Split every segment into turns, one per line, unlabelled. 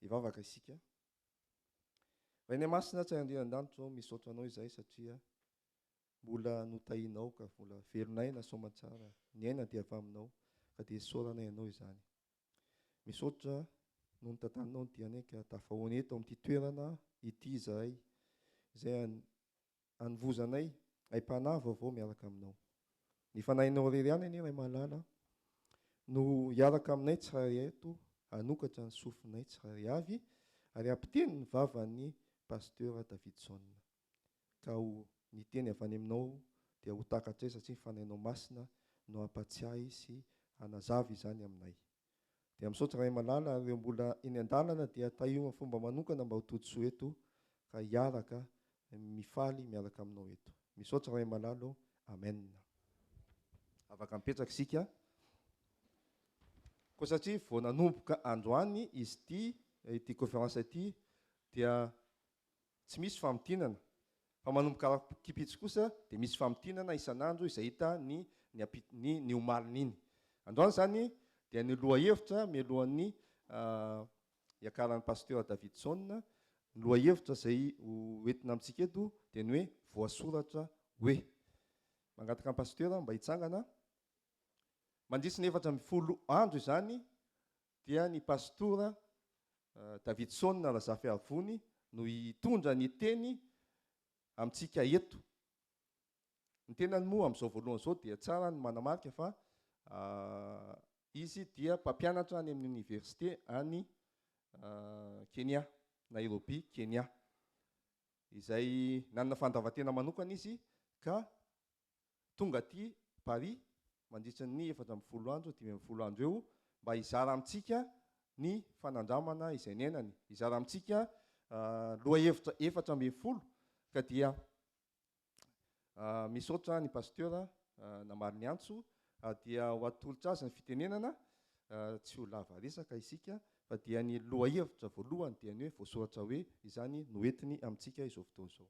Hivavaka isika. Rainay Masina Tsay Andriandanitra ô, misaotra Anao izahay satria mbola notahianao ka mbola velon'aina soamantsara, ny aina dia avy Aminao ka dia isaoranay Anao izany. Misaotra noho ny tantaninao ny dianay ka tafahoana eto amin'ity toerana ity izahay izay anovozanay aim-panahy vaovao miaraka aminao. Ny Fanahinao irery ihany anie, Ray malala, no hiaraka aminay tsirairay eto, hanokatra ny sofinay tsirairay avy, ary hampiteny ny vavan'ny Pasteur Davidson. Ka ho ny teny avy any aminao dia ho takatray satria ny Fanahinao Masina no hampatsiahy sy hanazava izany aminay. Dia misaotra Ray malala ary ireo mbola eny andalana dia tahio am fomba manokana mba ho todisoa eto ka hiaraka mifaly miaraka aminao eto. Misaotra Ray malala ô. Amen. Afaka mipetraka isika. Koa satria vao nanomboka androany izy ity ity conference ity dia tsy misy famintinana, fa manomboka alakipitsy kosa dia misy famintinana isan'andro izay hita ny ny api ny ny omalin'iny androany izany dia ny lohahevitra mialohan'ny hiakaran'i Pasteur Davidson ny lohahevitra izay ho entina amintsika eto dia ny hoe voasoratra hoe mangataka an'i Pasteur mba hitsangana mandritra ny efatra ambin'ny folo andro izany dia ny Pastora Davidson Razafiavony no hitondra ny teny amintsika eto. Ny tenany moa amin'izao voalohany izao dia tsara ny manamarika fa izy dia mpampianatra any amin'ny oniversite any Kenya, Nairobi, Kenya, izay nanana fandavan-tena manokana izy ka tonga aty Paris mandritra ny efatra ambin'ny folo andro, dimy ambin'ny folo andro eo mba hizara amintsika ny fanandramana izay niainany, hizara amintsika lohahevitra efatra ambin'ny folo ka dia misaotra ny Pasteur namaly ny antso ary dia ho atolotra azy ny fitenenana tsy ho lava resaka isika fa dia ny lohahevitra voalohany dia ny hoe voasoratra hoe izany no entiny amintsika izao fotoana izao.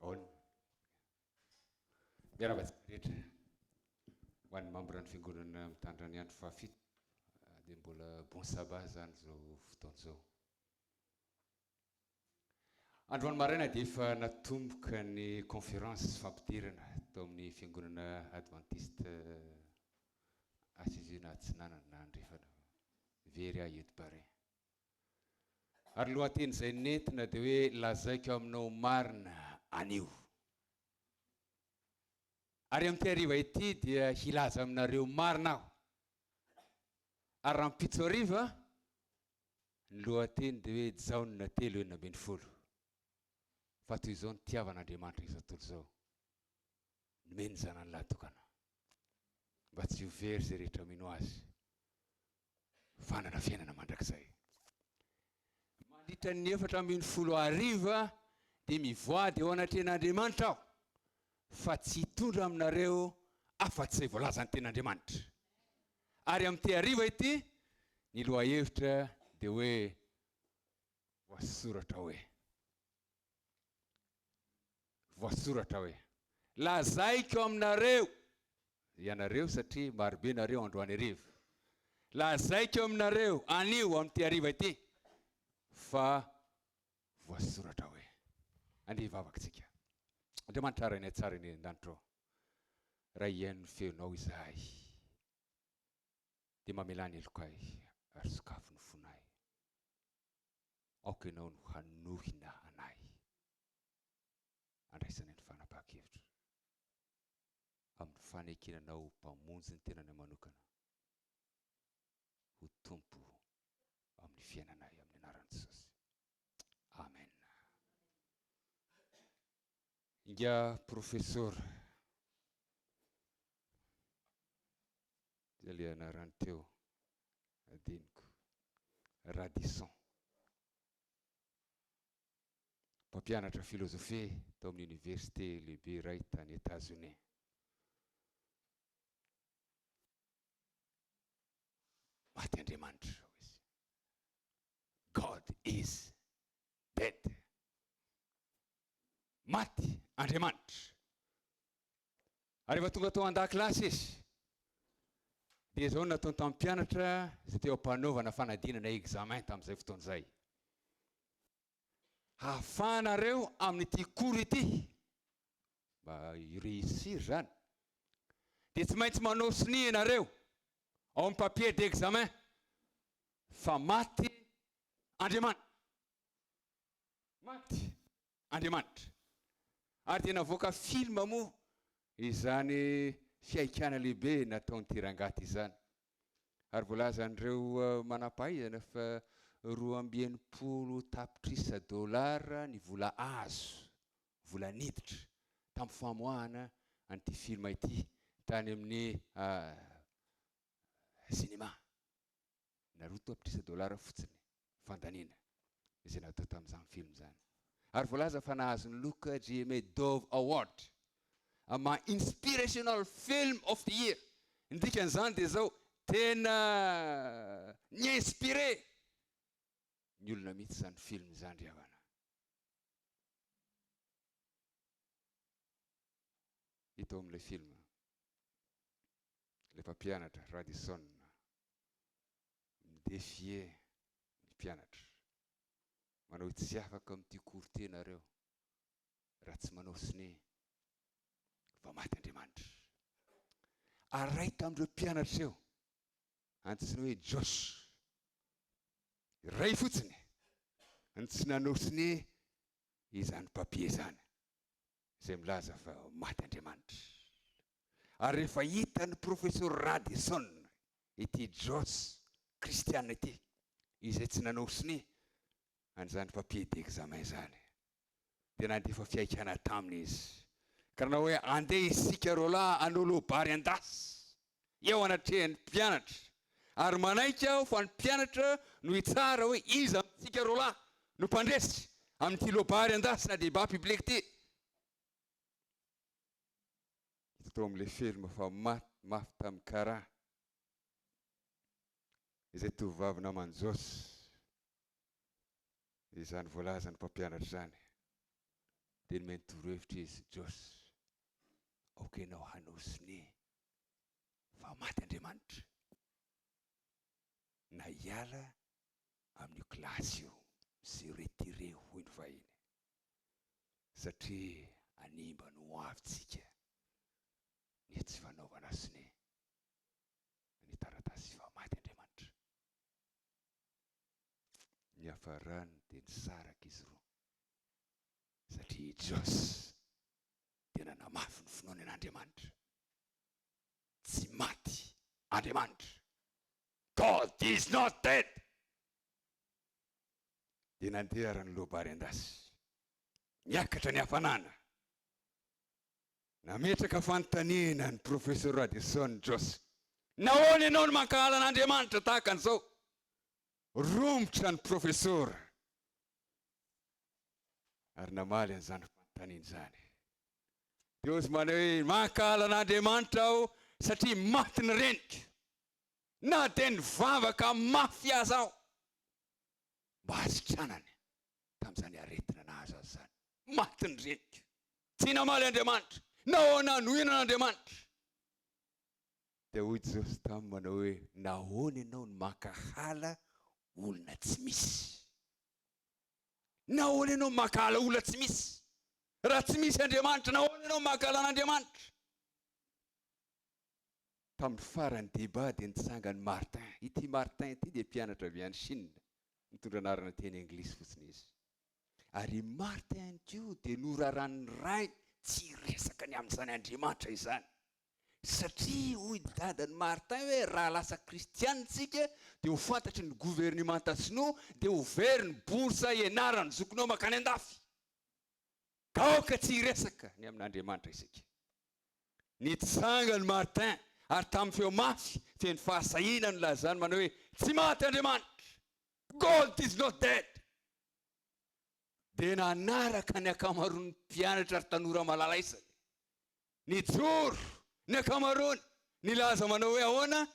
On. Miarahaba antsika rehetra. Ho an'ny mambran'ny Fiangonana Mitandrina ny Andro Fahafito dia mbola Bon Sabbat izany izao fotoana izao. Androany maraina dia efa natomboka ny conférence fampidirana tao amin'ny Fiangonana Adventiste Assisien Atsinanana na Andrefana, very ahy eto Barea. Ary lohateny izay nentina dia hoe Lazaiko aminao marina anio. Ary amin'ity hariva ity dia hilaza aminareo marina aho. Ary rahampitso hariva, ny lohateny dia hoe Jaona telo enina ambin'ny folo. Fa toy izao nitiavana Andriamanitra izao tontolo izao, nomeny ny Zanany lahy tokana, mba tsy ho very izay rehetra mino Azy, fanana fiainana mandrakizay. Mandritra ny efatra ambin'ny folo hariva dia mivoady eo anatrehan'Andriamanitra aho, fa tsy hitondra aminareo afa-tsy izay voalazan'ny Tenin'Andriamanitra. Ary amin'ity hariva ity, ny lohahevitra dia hoe voasoratra hoe. Voasoratra hoe. Lazaiko aminareo, ianareo satria marobe nareo androany hariva, lazaiko aminareo anio amin'ity hariva ity fa voasoratra hoe. Andeha hivavaka tsika. Andriamanitra Rainay tsara eny an-danitra ô, raha hihaino ny feonao izahay dia mamelà ny helokay ary sokafy ny fonay. Aoka Ianao no hanohina anay handraisana ny fanapahan-kevitra, amin'ny fanekena Anao ho Mpamonjy ny tenanay manokana, ho Tompo amin'ny fiainanay, amin'ny anaran'i Jesosy. Amen. Ingahy Profesora. Dia ilay anarany teo, adinoko, Radisson. Mpampianatra filozofia tao amin'ny oniversite lehibe iray tany Etazonia. Maty Andriamanitra, hoy izy. God is dead. Maty Andriamanitra. Ary rehefa tonga tao an-dakilasy izy, dia izao no nataony tamin'ny mpianatra izay teo am-panaovana fanadinana examen tamin'izay fotoana izay. Hahafahanareo amin'ity cours ity mba hi-réussir izany, dia tsy maintsy manao sonia ianareo ao amin'ny papier d'examen fa maty Andriamanitra. Maty. Andriamanitra. Ary dia navoaka film moa izany fihaikana lehibe nataon'ity rangahy ity izany. Ary voalazan'ireo manam-pahaizana fa roa amby enimpolo tapitrisa dollars ny vola azo, vola niditra, tamin'ny famoahana an'ity film ity tany amin'ny cinema. Naruto apitrisa dollars fotsiny fandaniana izay natao tamin'izany film izany ary voalaza fa nahazo ny Luca GMA Dove Award amin'ny maha inspirational film of the year ny dikan'izany dia izao tena ni-inspirer ny olona mihitsy izany film izany ry havana hita ao amin'ilay film. ilay mpampianatra Radisson mi-defier ny mpianatra, manao hoe tsy afaka amin'ity cours-ty ianareo raha tsy manao sne vao maty Andriamanitra. Ary iray tamin'ireo mpianatra eo, antsoina hoe Josh, iray fotsiny no tsy nanao sne izany papier izany. izay milaza fa maty Andriamanitra. Ary rehefa hitan'i Professor Radisson ity Joss kristiana ity, izay tsy nanao sonia an'izany papier d'examen izany, dia nandefa fihaikana taminy izy, ka nanao hoe, Andeha isika roalahy hanolo bary an-dasy! eo anatrehan'ny mpianatra ary manaiky aho fa ny mpianatra no hitsara hoe iza amintsika roa lahy no mpandresy amin'ity loabary an-dasy na débat public ity. Hita tao amin'ilay film fa maty mafy tamin'ny karaha izay tovovavy naman'i Jos izany voalazan'ny mpampianatra izany. Dia nomeny torohevitra izy, Jos, aoka ianao hanohy sonia fa maty Andriamanitra na hiala amin'io classe io se retirer hoy ny vahiny satria hanimba ny hoavintsika ny tsy fanaovana sne ny taratasy fa maty Andriamanitra. Niafarany dia nisaraka izy roa satria i Joss dia nanamafy ny finoany an'Andriamanitra. Tsy maty Andriamanitra. God is not dead! Dia nandeha ary ny lobary an-dasy. Niakatra ny hafanana. Nametraka fanontaniana ny Professor Addison Joss. Nahoana ianao no mankahala an'Andriamanitra tahaka an'izao? Romotra ny Professor. ary namaly an'izany fanontaniana izany. Dia ozy maneho hoe mankahala an'Andriamanitra aho satria maty ny reniko, na dia nivavaka mafy aza aho mba hasitrànany tamin'izany aretina nahazo azy izany. Maty ny reniko. Tsy namaly Andriamanitra. Nahoana hanohina an'Andriamanitra? Dia hoy Jesosy taminy manao hoe, Nahoana ianao no mankahala olona tsy misy? Nahoana ianao no mankahala olona tsy misy? Raha tsy misy Andriamanitra, nahoana ianao no mankahala an'Andriamanitra? Tamin'ny faran'ny débat dia nitsangan'i Martin. Ity Martin ity dia mpianatra avy any Chine, mitondra anarana teny anglisy fotsiny izy. Ary i Martin ihany koa dia noraràn'ny rainy tsy hiresaka ny amin'izany Andriamanitra izany. satria hoy ny dadan'i Martin hoe raha lasa kristiana isika dia ho fantatry ny governemanta sinoa dia ho very ny bourse hianaran'ny zokinao mankany andafy. Aoka tsy hiresaka ny amin'Andriamanitra isika. Nitsangany Martin ary tamin'ny feo mafy feno fahasahiana nilazany manao hoe tsy maty Andriamanitra! God is not dead! Dia nanaraka ny ankamaroan'ny mpianatra ary tanora malalaisany Nijoro ny ankamaroany nilaza manao hoe ahoana?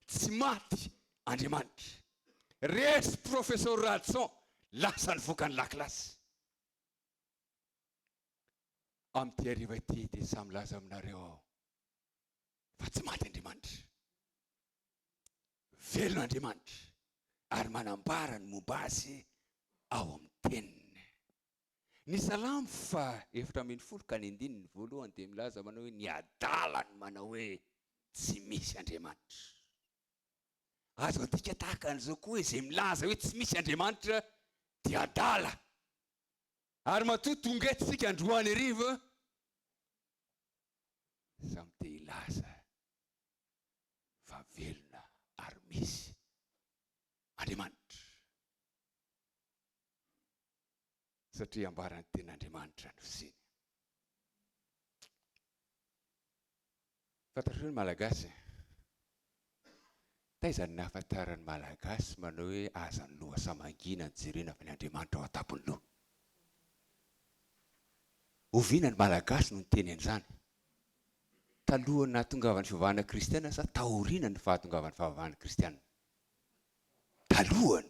Tsy maty Andriamanitra. Resy Professor Radson lasa nivoaka ny lakilasy. Amin'ity hariva ity dia sahy milaza aminareo aho fa tsy maty Andriamanitra. Velona Andriamanitra ary manambara ny momba azy ao amin'ny teniny. Ny Salamo faha efatra ambin'ny folo ka ny andininy voalohany dia milaza manao hoe ny adala no manao hoe tsy misy Andriamanitra. Azo adika tahaka an'izao koa hoe izay milaza hoe tsy misy Andriamanitra dia adala. Ary matoa tonga eto isika androany hariva, samy te hilaza fa velona ary misy Andriamanitra. satria ambaran'ny tenin'Andriamanitra ny fisiany. Fantatrareo ny Malagasy e? Taiza no nahafantaran'ny Malagasy manao hoe aza ny loha sa mangina no jerena fa ny Andriamanitra ao an-tampon'ny loha. Oviana ny Malagasy no niteny an'izany? Talohan'ny nahatongavan'ny fivavahana kristiana sa taoriana ny fahatongavan'ny fahavahana kristiana? Talohany.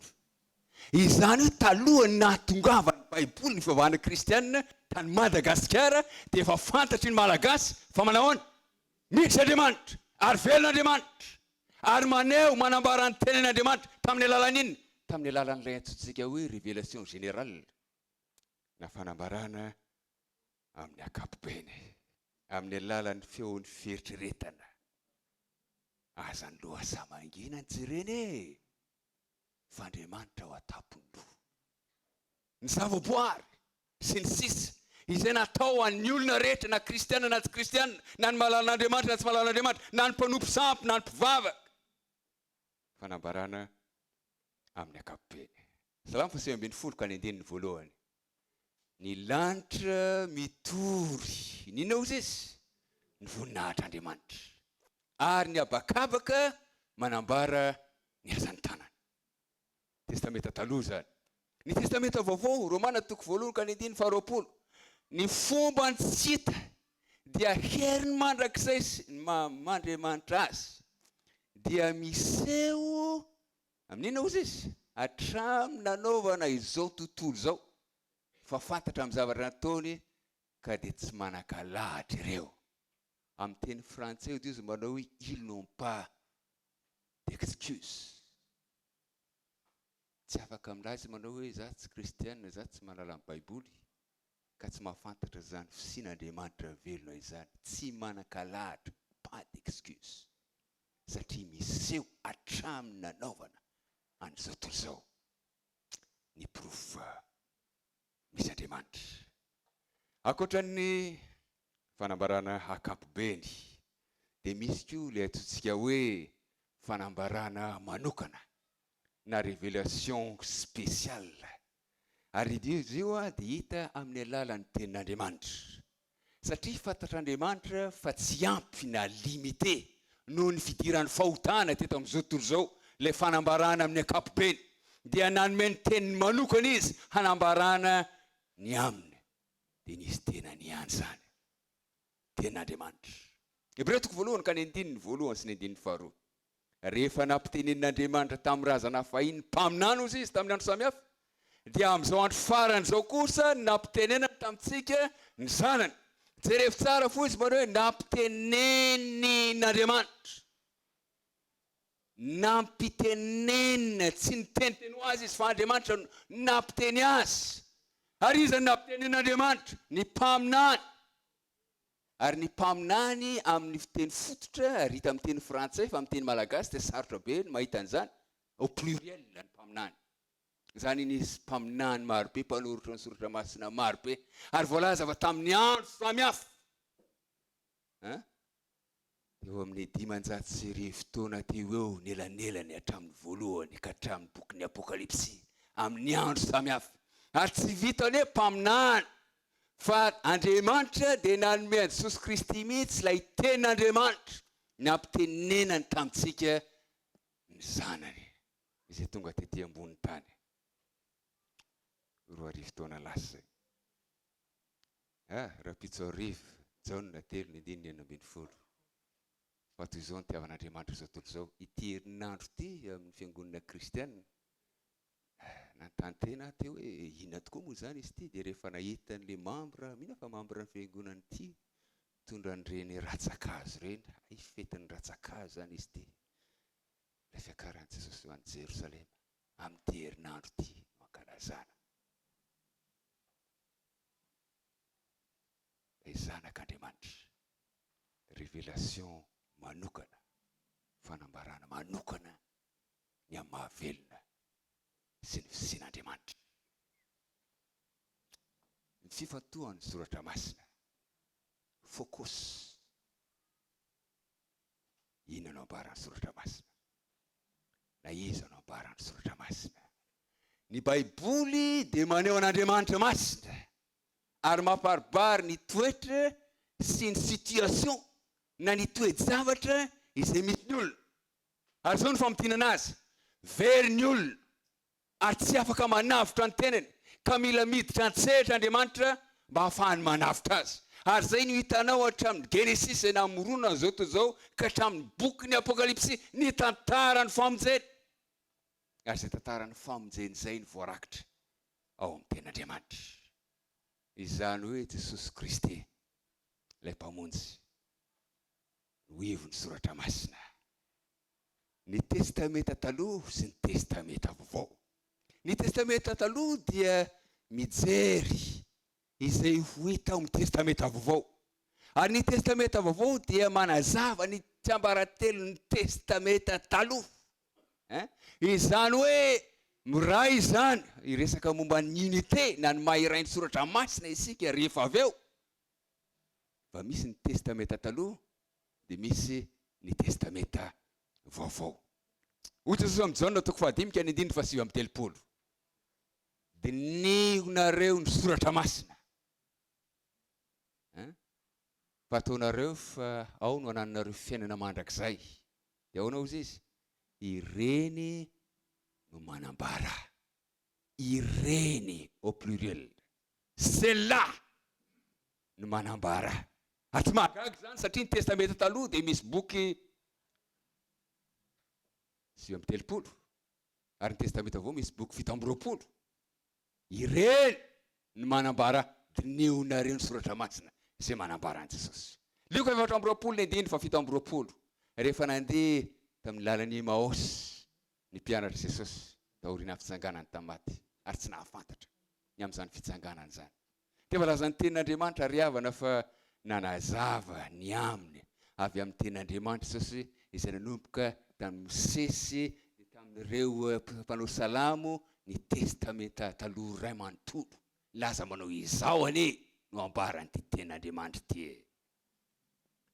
Izany hoe talohan'ny nahatongavan'ny Baiboly ny fivavahana kristianina tany Madagasikara dia efa fantatry ny Malagasy fa manao ahoana? Miditra Andriamanitra ary velona Andriamanitra ary maneho, manambara ny tenin' Andriamanitra tamin'ny alalan'ny inona? Tamin'ny alalan'ilay antsointsika hoe révélation générale na fanambarana amin'ny ankapobeny, amin'ny alalan'ny feon'ny fieritreretana. Aza ny lohasaha mangina ny jerena e! f'Andriamanitra ao an-tampon'ny loha. Ny zavaboary, sy ny sisa, izay natao ho an'ny olona rehetra na kristiana na tsy kristiana, na ny mahalala an'Andriamanitra na tsy mahalala an'Andriamanitra, na ny mpanompo sampy na ny mpivavaka. Fanambarana amin'ny ankapobeny. Salamo fahasivy ambin'ny folo ka ny andininy voalohany. Ny lanitra mitory ny naoses, ny voninahitr'Andriamanitra, ary ny habakabaka manambara ny asan'ny tanany. Testamenta Taloha izany. Ny Testamenta Vaovao, Romana toko voalohany ka ny andininy faharoapolo, Ny fomba ny tsy hita dia heriny mandrakizay sy ny maha Andriamanitra Azy dia miseho Amin' inona ozy izy? Hatramin' ny nanaovana izao tontolo izao, fa fantatra amin' ny zavatra nataony, ka dia tsy manan-kalahatra ireo. Amin' ny teny frantsay ody izy manao hoe ils n'ont pas d'excuse. Tsy afaka milaza manao hoe izaho tsy kristiana, izaho tsy mahalala ny Baiboly, ka tsy mahafantatra izany fisian' Andriamanitra velona izany. Tsy manan-kalahatra, pas d'excuse. satria miseho hatramin'ny nanaovana an'izao tontolo izao ny porofo fa misy Andriamanitra. Ankoatra ny fanambarana ankapobeny dia misy koa ilay antsointsika hoe fanambarana manokana na révélation spéciale Ary izy io dia hita amin'ny alalan'ny Tenin'Andriamanitra. Satria fantatr'Andriamanitra fa tsy ampy na limité noho ny fidiran'ny fahotana teto amin'izao tontolo izao ilay fanambarana amin'ny ankapobeny, dia nanome ny Teniny manokana Izy hanambarana ny aminy. Dia nisy Tenany ihany izany, Tenin'Andriamanitra. Hebreo toko voalohany ka ny andininy voalohany sy ny andininy faharoa. Rehefa nampitenenin'Andriamanitra tamin'ny razana fahiny mpaminany hozy Izy tamin'ny andro samihafa, dia amin'izao andro farany izao kosa ny nampitenenany tamintsika ny Zanany. Jerevo tsara fohy izy manao hoe nampitenenin'Andriamanitra. Nampitenenina, tsy niteniteny ho azy Izy fa Andriamanitra no nampiteny Azy. Ary iza no nampitenenin'Andriamanitra? Ny mpaminany. Ary ny mpaminany amin'ny fiteny fototra ary hita amin'ny teny frantsay fa amin'ny teny malagasy dia sarotra be ny mahita an'izany, au pluriel ny mpaminany. Izany nisy mpaminany maro be, mpanoratra ny soratra masina maro be, ary voalaza fa tamin'ny andro samy hafa. Hein? Teo amin'ny dimanjato sy arivo taona teo ho eo nelanelany hatramin'ny voalohany ka hatramin'ny bokin'ny Apokalypsy amin'ny andro samihafa. Ary tsy vita ny hoe mpaminany fa Andriamanitra dia nanome an'i Jesosy Kristy mihitsy ilay Tenin'Andriamanitra nampitenenany tamintsika ny Zanany izay tonga tety ambonin'ny tany roa arivo taona lasa izay. Ha, Rapitsaorivo Jaona telo ny andininy enina ambin'ny folo. Fa toy izao ny itiavan'Andriamanitra izao tontolo izao, ity herinandro ity amin'ny Fiangonana Kristianina. Ha, nanontany tena aho teo hoe, inona tokoa moa izany izy ity? Dia rehefa nahita an'ilay membre, mino aho fa membre ny Fiangonana ity, mitondra an'ireny ratsan-kazo ireny, hay fetin'ny ratsan-kazo izany izy ity, ilay fiakaran'i Jesosy ho any Jerosalema, amin'ity herinandro ity no ankalazana. Ilay Zanak'Andriamanitra. Révélation manokana, fanambarana manokana ny amin'ny mahavelona sy ny fisian'Andriamanitra. Ny fifantohan'ny soratra masina, focus. Inona no ambaran'ny Soratra Masina? Na iza no ambara ny Soratra Masina? Ny Baiboly dia maneho an'Andriamanitra masina ary mahafaribary ny toetra sy ny situation na ny toe-javatra izay misy ny olona. Ary izao no famintinana azy, Very ny olona. ary tsy afaka manavotra ny tenany ka mila miditra an-tsehatra Andriamanitra mba hahafahany manavotra azy. Ary izay no hitanao hatramin'ny Genesisy izay namoronana an'izao tontolo izao ka hatramin'ny bokin'ny Apokalypsy ny tantaran'ny famonjena. Ary izay tantaran'ny famonjena izay no voarakitra ao amin'ny Tenin'Andriamanitra. Izany hoe Jesosy Kristy ilay Mpamonjy no ivon'ny Soratra Masina. ny Testamenta Taloha sy ny Testamenta Vaovao. Ny Testamenta Taloha dia mijery izay ho hita ao amin'ny Testamenta Vaovao, ary ny Testamenta Vaovao dia manazava ny tsiambaratelon'ny Testamenta Taloha. Hein? Izany hoe miray izany, hiresaka momba ny unité na ny maha iray ny Soratra Masina isika rehefa avy eo, fa misy ny Testamenta Taloha dia misy ny Testamenta Vaovao. Hoy Jesosy amin'i Jaona toko fahadimy ka ny andininy fahasivy amby telopolo, Diniho nareo ny soratra masina, hein? fa ataonareo fa ao no anananareo fiainana mandrakizay. Dia ahoana hozy izy? Ireny no manambara. ireny au pluriel. Selah! no manambara. Ary tsy mahagaga izany satria ny Testamenta Taloha dia misy boky sivy amby telopolo ary ny Testamenta Vaovao misy boky fito amby roapolo. Ireny no manambara Dineonareo ny Soratra Masina izay manambara an'i Jesosy. Lioka efatra amby roapolo ny andininy fahafito amby roapolo, Rehefa nandeha tamin'ny lalan'i Emaosy Ny mpianatr'i Jesosy taorian'ny fitsanganany tamin'ny maty ary tsy nahafantatra ny amin'izany fitsanganana izany. Dia voalazan'ny Tenin'Andriamanitra ry havana fa nanazava ny aminy avy amin'ny Tenin'Andriamanitra Jesosy izay nanomboka tamin'i Mosesy dia tamin'ireo mpanao salamo ny Testamenta Taloha iray manontolo. Nilaza manao izao anie no ambaran'ity Tenin'Andriamanitra ity e.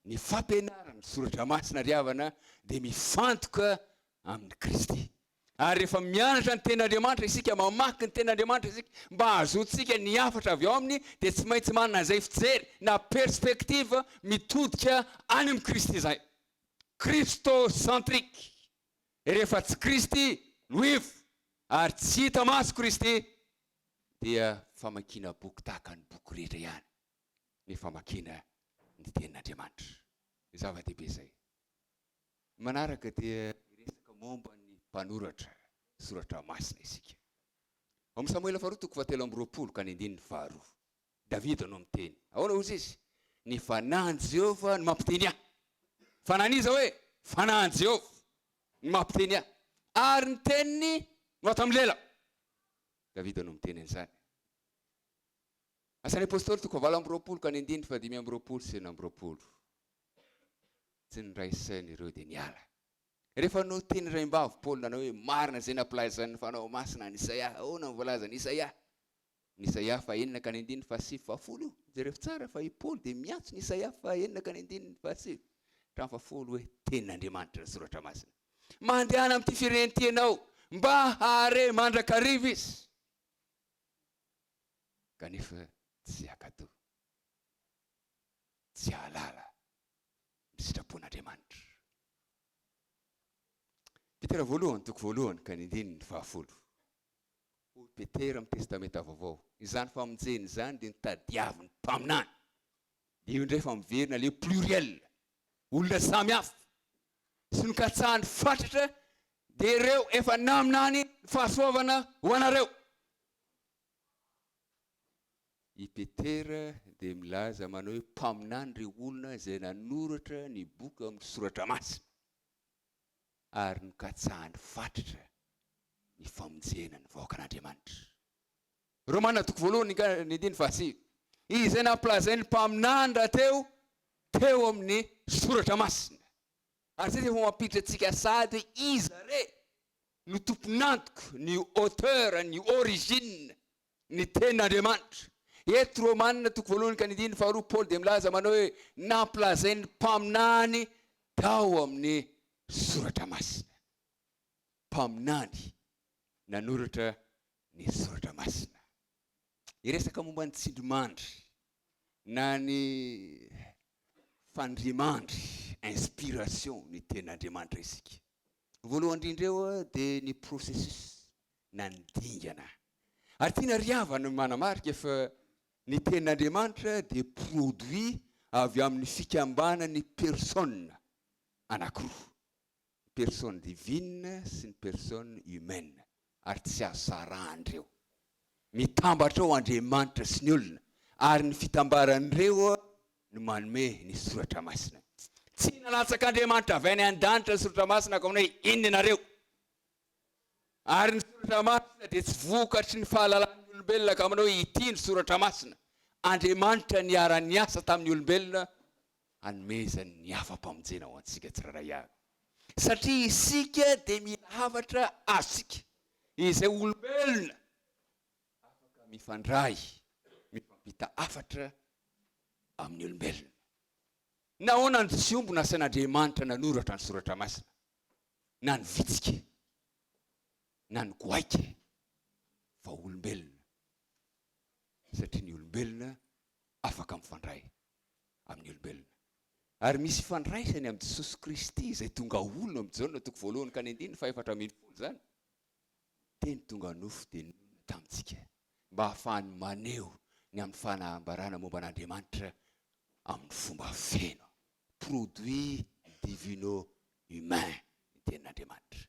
Ny fampianaran' ny Soratra Masina ry havana dia mifantoka amin' i Kristy. Ary rehefa mianatra ny Tenin' Andriamanitra isika, mamaky ny Tenin' Andriamanitra isika mba hahazoantsika ny hafatra avy ao aminy dia tsy maintsy manana izay fijery na perspective mitodika any amin' i Kristy izay. Christocentrique. Rehefa tsy Kristy no ivo ary tsy hita maso Kristy dia famakiana boky tahaka ny boky rehetra ihany. ny famakiana ny tenin'Andriamanitra. Zava-dehibe izay. Ny manaraka dia hiresaka momba ny mpanoratra soratra masina isika. Ao amin'ny Samoela faharoa toko fahatelo amby roapolo ka ny andininy faharoa. Davida no miteny. Ahoana hozy izy? Ny Fanahin'i Jehovah no mampiteny ahy. Fanahin'iza hoe? Fanahin'i Jehovah no mampiteny ahy, ary ny teniny no ato amin'ny lelako. Davida no miteny an'izany. Asan'ny Apôstôly toko fahavalo amby roapolo ka ny andininy fahadimy amby roapolo sy enina amby roapolo, Tsy niraisaina ireo dia niala. Rehefa notin'ny raim-bavy Paoly nanao hoe marina izay nampilazan'ny Fanahy Masina an'i Isaia, ahoana no voalazan'i Isaia? Ny Isaia faha enina ka ny andininy faha sivy, faha folo io. Jereo tsara fa i Paoly dia miantso ny Isaia faha enina ka ny andininy faha sivy hatramin'ny faha folo hoe tenin'Andriamanitra ny Soratra Masina. Mandehana amin'ity firenena ity ianao mba hahare mandrakariva izy. kanefa tsy hankatò, tsy hahalala ny sitrapon'Andriamanitra. Petera voalohany toko voalohany ka ny andininy fahafolo. Hoy Petera amin'ny Testamenta Vaovao, izany famonjena izany dia nitadiavin'ny mpaminany. Dia io indray fa miverina ilay pluriel, olona samy hafa sy ny katsahan'ny fatratra dia ireo efa naminany ny fahasoavana ho anareo. I Petera dia milaza manao hoe mpaminany ry olona izay nanoratra ny boky ao amin'ny soratra masina ary nokatsahan'ny fatratra ny famonjena ny vahoakan'Andriamanitra. Romana toko voalohany ny andininy fahasivy, izay nampilazain'ny mpaminany rahateo teo amin'ny soratra masina. Ary zay zay vao mampiditra antsika sahady hoe iza re no tompon'antoko, ny auteur, ny origine, ny tenin'Andriamanitra. Eto Romana toko voalohany ka ny andininy faharoa Paoly dia milaza manao hoe nampilazain'ny mpaminany tao amin'ny soratra masina. Mpaminany nanoratra ny soratra masina. Hiresaka momba ny tsindrimandry na ny fandriamandry, inspiration, ny tenin'Andriamanitra isika. Voalohany indrindra eo dia ny processus na ny dingana. Ary tiana ariavana ny manamarika fa ny tenin'Andriamanitra dia produit avy amin'ny fikambanan'ny persona anankiroa. ny personne divine sy ny personne humaine ary tsy azo sarahan'ireo. Mitambatra ao Andriamanitra sy ny olona ary ny fitambaran'ireo no manome ny Soratra Masina. Tsy nalatsak'Andriamanitra avy any an-danitra ny Soratra Masina ka hoe inona ianareo? Ary ny soratra masina dia tsy vokatry ny fahalalan'ny olombelona ka manao hoe ity no soratra masina. Andriamanitra niara-niasa tamin'ny olombelona hanomezany ny afa-pamonjena ho antsika tsirairay avy. Satria isika dia mila hafatra azontsika izay olombelona afaka mifandray, mifampita hafatra amin'ny olombelona. Nahoana no tsy omby nasain'Andriamanitra nanoratra ny soratra masina? na ny vitsika na ny goaika fa olombelona satria ny olombelona afaka mifandray amin'ny olombelona ary misy ifandraisany amin'i Jesosy Kristy izay tonga olona amin'i Jaona toko voalohany ka ny andininy fahefatra ambin'ny folo izany teny tonga nofo dia nonina tamintsika mba hahafahany maneho ny amin'ny fanambarana momba an'Andriamanitra amin'ny fomba feno produits divino-humains ny Tenin'Andriamanitra.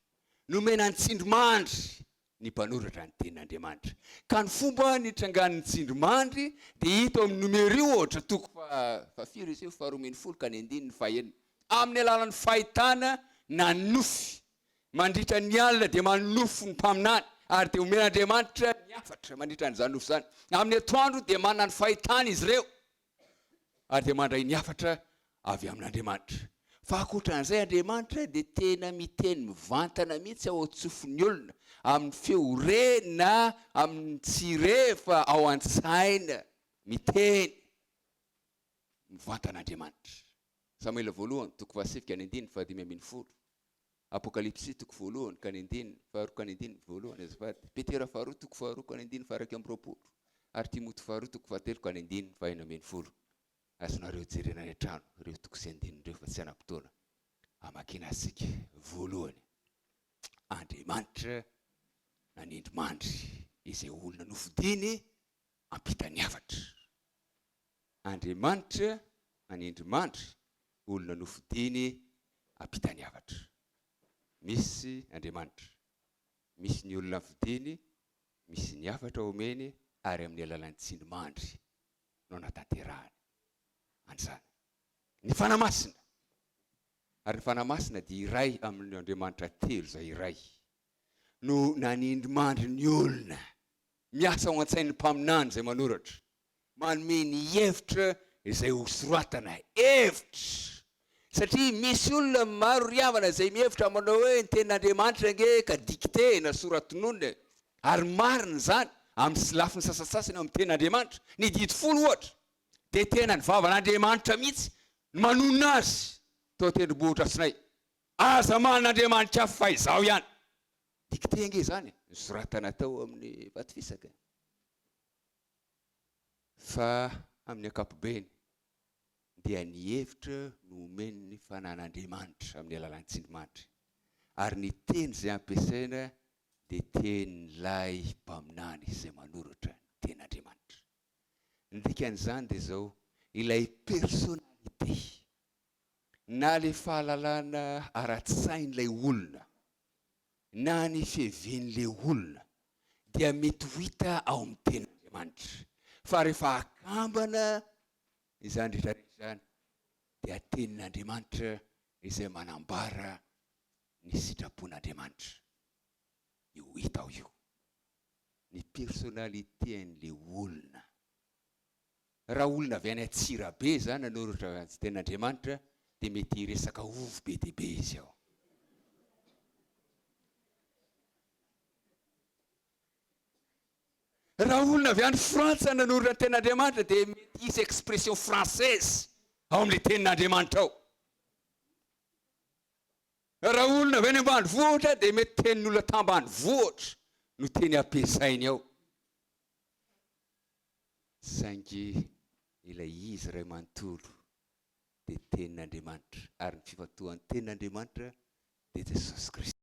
Nomena ny tsindrimandry ny mpanoratra ny Tenin'Andriamanitra. Ka ny fomba nitrangan'ny tsindrimandry dia hita ao amin'ny Numerio, ohatra, toko faha firy izy io? Faha roa ambin'ny folo ka ny andininy faha enina. Amin'ny alalan'ny fahitana na ny nofy, mandritra ny alina dia manonofy ny mpaminany ary dia omen'Andriamanitra ny hafatra mandritra an'izany nofy izany. Amin'ny atoandro dia manana ny fahitana izy ireo. ary dia mandray ny hafatra avy amin'Andriamanitra. Fa ankoatran'izay, Andriamanitra dia tena miteny mivantana mihitsy ao an-tsofin'ny olona, amin'ny feo re na amin'ny tsy re fa ao an-tsaina. Miteny mivantana Andriamanitra. Samoela Voalohany, toko fahasivy ka ny andininy fahadimy ambin'ny folo. Apokalypsy toko voalohany ka ny andininy faharoa ka ny andininy voalohany azafady, Petera faharoa toko faharoa ka ny andininy faha-iraika amby roapolo, ary Timoty faharoa toko fahatelo ka ny andininy faha-enina ambin'ny folo. Azonareo jerena any an-trano ireo toko sy andininy ireo fa tsy hanam-potoana hamakiana azy isika. Voalohany, Andriamanitra nanindry mandry izay olona nofidiny Ampita ny hafatra. Andriamanitra anindrimandry olona nofidiny ampita ny hafatra. Misy Andriamanitra, misy ny olona fidiny, misy ny hafatra omeny ary amin'ny alalan'ny tsinimandry no anatanterahany an'izany. Ny Fanahy Masina. Ary ny Fanahy Masina dia iray amin'ireo Andriamanitra telo izay iray no nanindrimandry ny olona Miasa ao an-tsain'ny mpaminany izay manoratra. Manome ny hevitra izay ho soratana. Hevitra! Satria misy olona maro ry havana izay mihevitra manao hoe ny tenin'Andriamanitra ange ka dictée na soratononina e! Ary marina izany amin'ny lafiny sasantsasany ao amin'ny tenin'Andriamanitra. Ny Didy Folo ohatra dia tena ny vavan'Andriamanitra mihitsy no manonona azy tao an-tendrombohitra Sinay. Aza manana andriamani-kafa fa izaho ihany. Dictée ange izany nosoratana tao amin'ny vatofisaka e! Fa amin'ny ankapobeny dia ny hevitra no omen'ny fanan'Andriamanitra amin'ny alalan'ny tsindrimandry, ary ny teny izay ampiasaina dia tenin'ilay mpaminany izay manoratra ny tenin'Andriamanitra. Ny dikan'izany dia izao, ilay personnalité na ilay fahalalana ara-tsain'ilay olona na ny fiheven'ilay olona dia mety ho hita ao amin'ny Tenin'Andriamanitra fa rehefa akambana izany rehetra rehetra izany dia Tenin'Andriamanitra izay manambara ny sitrapon'Andriamanitra io hita ao io ny personnalité an'ilay olona. Raha olona avy any Antsirabe za nanoratra antsitenin'Andriamanitra dia mety hiresaka ovy be dia be izy aho. Raha olona avy any Frantsa nanoratra ny tenin'Andriamanitra dia mety hisy expression française ao amin'ilay tenin'Andriamanitra ao. Raha olona avy any ambanivohitra dia mety tenin'olona tambanivohitra no teny ampiasainy ao. Saingy ilay izy iray manontolo dia Tenin'Andriamanitra, ary ny fifantohan'ny Tenin'Andriamanitra dia Jesosy Kristy.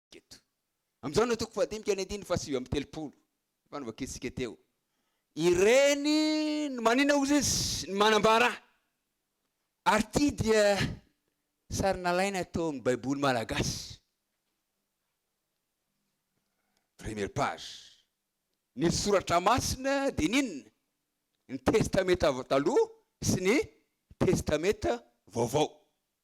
eto. Amin'izao no toko fahadinika ny andininy fahasivy amby telopolo, efa novakiantsika teo. Ireny no manina hozy izy, ny manambara. Ary ity dia sary nalaina tao amin'ny Baiboly malagasy. Première page. Ny soratra masina dia n'inona? Ny Testamenta Taloha sy ny Testamenta Vaovao.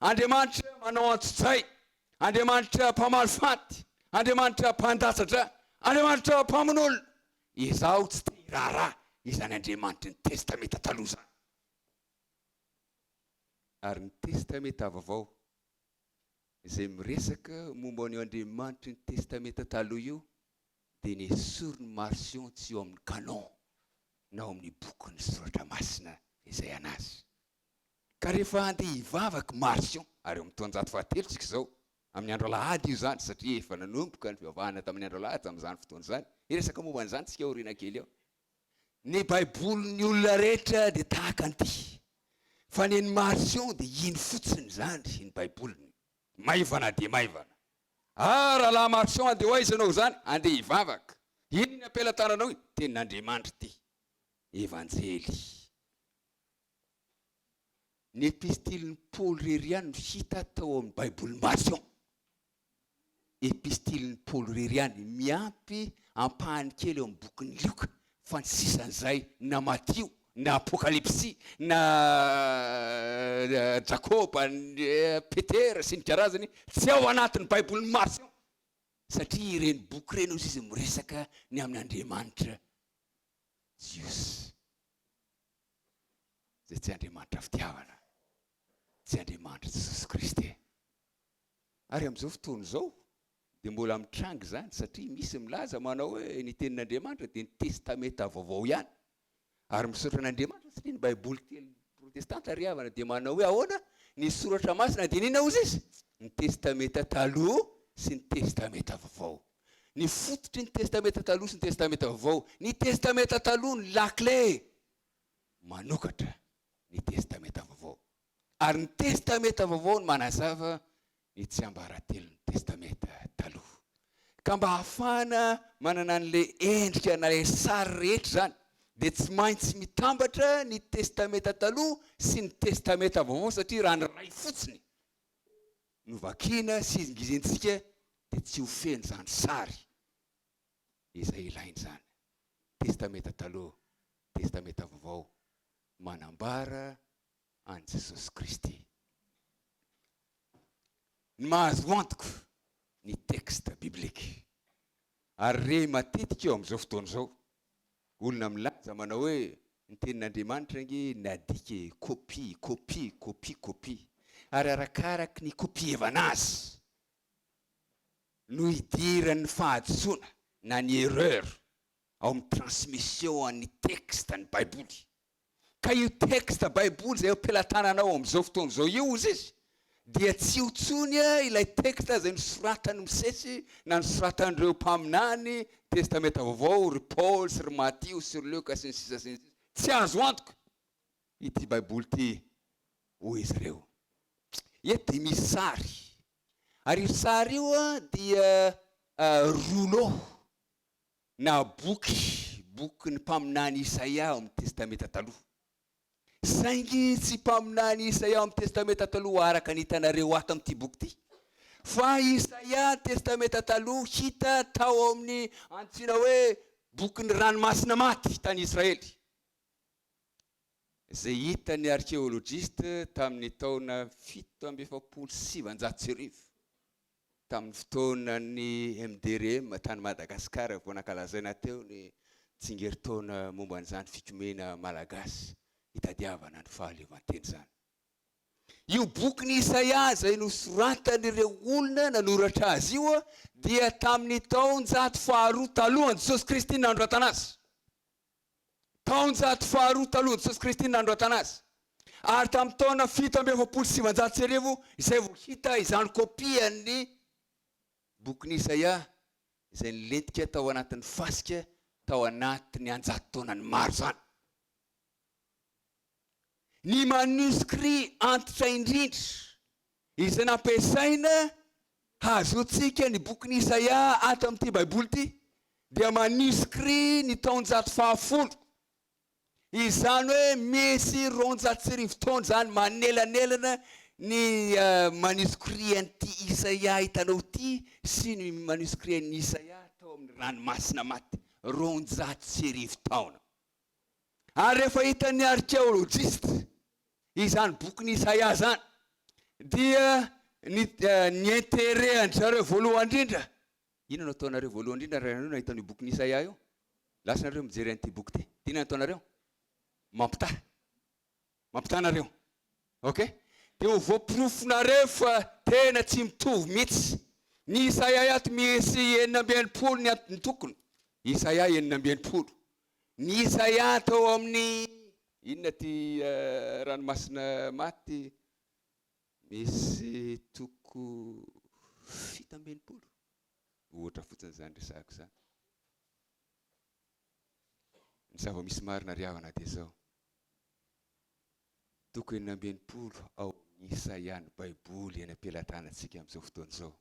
Andriamanitra manao antsojay, Andriamanitra mpamaly faty, Andriamanitra mpandatsatra, Andriamanitra mpamono olona. Izaho tsy te hiraharaha izany Andriamanitry ny Testamenta Taloha izany. Ary ny Testamenta Vaovao, izay miresaka momba an'io Andriamanitry ny Testamenta Taloha io, dia nesorin'i Marcion tsy eo amin'ny canon na ao amin'ny bokin'ny Soratra Masina izay an'azy. Ka rehefa handeha hivavaka i Marcion, ary ao amin'ny taonjato fahatelo isika izao, amin'ny andro alahady io izany, satria efa nanomboka ny fivavahana tamin'ny andro alahady tamin'izany fotoana izany, hiresaka momba an'izany isika aoriana kely eo. Ny Baibolin'ny olona rehetra dia tahaka an'ity, fa ny an'i Marcion dia iny fotsiny izany ny Baiboliny, maivana dia maivana. Ah, Rahalahy Marcion, andeha ho aiza ianao izany? Andeha hivavaka. Inona no ampelatananao iny? Tenin'Andriamanitra ity. Evanjely. Ny epistilin'i Paoly irery ihany no hita tao amin'ny Baibolin'i Marion. Epistilin'i Paoly irery ihany, miampy ampahany kely ao amin'ny bokin'i Lioka, fa ny sisan'izay na Matio, na Apokalypsy, na Jakoba, Petera sy ny karazany, tsy ao anatin'ny Baibolin'i Marion, satria ireny boky ireny hozy izy miresaka ny amin'Andriamanitra jiosy. izay tsy Andriamanitra fitiavana, tsy Andriamanitra Jesosy Kristy. Ary amin'izao fotoana izao dia mbola mitranga izany satria misy milaza manao hoe ny tenin'Andriamanitra dia ny Testamenta Vaovao ihany. Ary misaotra an'Andriamanitra satria ny Baiboly teny protestanta ry havana dia manao hoe ahoana ny Soratra Masina dia inona hozy izy? Ny Testamenta Taloha sy ny Testamenta Vaovao. ny fototry ny Testamenta Taloha sy ny Testamenta Vaovao. Ny Testamenta Taloha no lakile manokatra ny Testamenta Vaovao, ary ny Testamenta Vaovao no manazava ny tsiambaratelon'ny Testamenta Taloha. Ka mba hahafahana manana an'ilay endrika na ilay sary rehetra izany, dia tsy maintsy mitambatra ny Testamenta Taloha sy ny Testamenta Vaovao, satria raha ny iray fotsiny. no vakiana sy zingizintsika dia tsy ho feno izany sary izay ilaina izany. Testamenta Taloha, Testamenta Vaovao manambara an'i Jesosy Kristy. Ny maha azo antoka ny texte biblique. ary re matetika eo amin'izao fotoana izao. Olona milaza manao hoe ny tenin'Andriamanitra ange nadika e, copie, copie, copie, copie. Ary arakaraky ny kopievana azy no idiran'ny fahadisoana na ny erreur ao amin'ny transmission an'ny texte ny baiboly. Ka io texte baiboly izay eo am-pelatananao amin'izao fotoana izao io, hozy izy, dia tsy io intsony ilay texte izay nosoratan'i Mosesy na nosoratan'ireo mpaminany Testamenta Vaovao, ry Paoly sy ry Matio sy ry Lioka sy ny sisa sy ny sisa. Tsy azo antoka ity baiboly ity, hoy izy ireo. Eto dia misy sary, ary io sary io dia rouleau. na boky, bokin' ny mpaminany Isaia ao amin' ny Testamenta Taloha, saingy tsy mpaminany Isaia ao amin' ny Testamenta Taloha araka ny hitanareo ato amin' ity boky ity, fa Isaia Testamenta Taloha hita tao amin' ny antsoina hoe Bokin' ny Ranomasina Maty tany Israely, izay hitan' ny arkeôlôjista tamin' ny taona fito amby efapolo sy sivanjato sy arivo. Tamin'ny fotoanan'ny MDRM tany Madagasikara vao nankalazaina teo ny tsingerin-taona momba an'izany fikomiana malagasy hitadiavana ny fahaleovantena izany. Io bokin'i Isaia izay nosoratan'ireo olona nanoratra azy io dia tamin'ny taonjato faharoa talohan'i Jesosy Kristy nanoratana azy. taonjato faharoa talohan'i Jesosy Kristy no nanoratana azy, ary tamin'ny taona fito amby efapolo sy sivinjato sy arivo izay vao hita izany kopian'ny bokin'i Isaia izay nilentika tao anatin'ny fasika tao anatin'ny anjato-taonany maro izany. ny manuscrit antitra indrindra izay nampiasaina hahazoantsika ny bokin'i Isaia ato amin'ity Baiboly ity dia manuscrit ny taonjato fahafolo, izany hoe misy roanjatsirivo taona izany manelanelana ny manuscrit an'ity Isaia hitanao ity sy ny manuscrit an'i Isaia tao amin'ny Ranomasina Maty, roanjatsirivo taona. Ary rehefa hitan'ny arkeolojista izany bokin'i Isaia izany, dia ny ny intérêt-ndry zareo voalohany indrindra, inona no ataonareo voalohany indrindra raha ianareo nahita an'io bokin'i Isaia io? Lasa nareo mijery an'ity boky ity. Dia inona no ataonareo? Mampitaha. Mampitaha anareo. Ok? Dia ho voaporofonareo fa tena tsy mitovy mihitsy. Ny Isaia ato misy enina amby enimpolo ny antokony. Isaia enina amby enimpolo. Ny Isaia tao amin'ny, inona ity ranomasina maty, misy toko fito amby enimpolo. Ohatra fotsiny izany resahako izany. Ny zava-misy marina ry havana dia izao, toko enina amby enimpolo ao amin'ny Isaia ny Baiboly eny am-pelatranantsika amin'izao fotoana izao.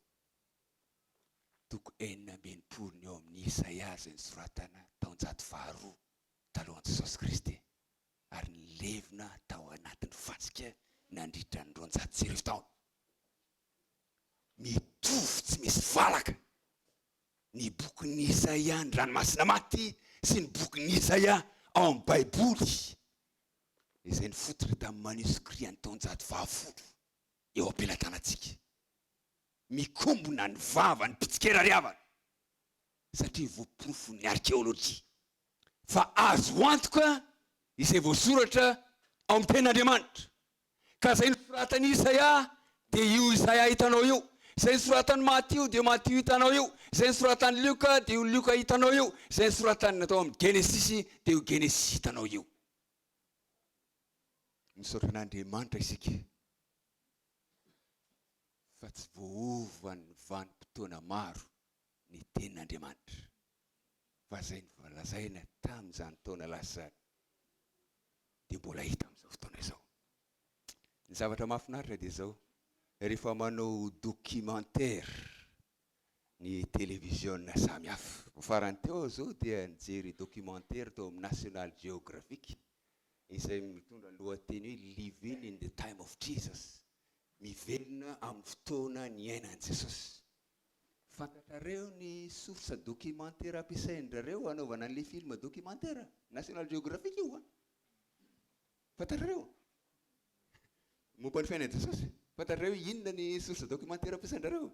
Toko enina amby enimpolo ny ao amin'ny Isaia izay nosoratana taonjato faharoa talohan'i Jesosy Kristy ary nilevina tao anatin'ny fantsika nandritra ny roanjato sy arivo taona. Mitovy tsy misy valaka ny bokin'i Isaia, ny ranomasina maty sy ny bokin'i Isaia ao amin'ny Baiboly, izay nifotony tamin'ny manuscrits an'ny taonjato fahafolo, eo am-pelatanantsika. Mikombona ny vavan'ny mpitsikera ry havana, satria voaporofon'ny arkeolojia fa azo antoka izay voasoratra ao amin'ny Tenin'Andriamanitra. Ka izay nosoratan'i Isaia dia io Isaia hitanao io, izay nosoratan'i Matio dia io Matio hitanao io, izay nosoratan'i Lioka dia io Lioka hitanao io, izay nosoratan'ny tao amin'ny Genesisy dia io Genesisy hitanao io. Misaotra an'Andriamanitra isika fa tsy voaova ny vanim-potoana maro. ny Tenin'Andriamanitra, fa izay nolazaina tamin'izany taona lasa izany dia mbola hita amin'izao fotoana izao. Ny zavatra mahafinaritra dia izao, rehefa manao documentaire ny televiziona samy hafa, vao farany teo aho izao dia nijery documentaire tao amin'ny National Geographic, izay mitondra ny lohateny hoe Living in the Time of Jesus, mivelona amin'ny fotoana niainan'i Jesosy. Fantatrareo ny source documentaire ampiasain-drareo anaovana an'le film documentaire? National Geographic io an! Fantatrareo? Momba ny fiainan'i Jesosy? Fantatrareo inona ny source documentaire ampiasain-drareo?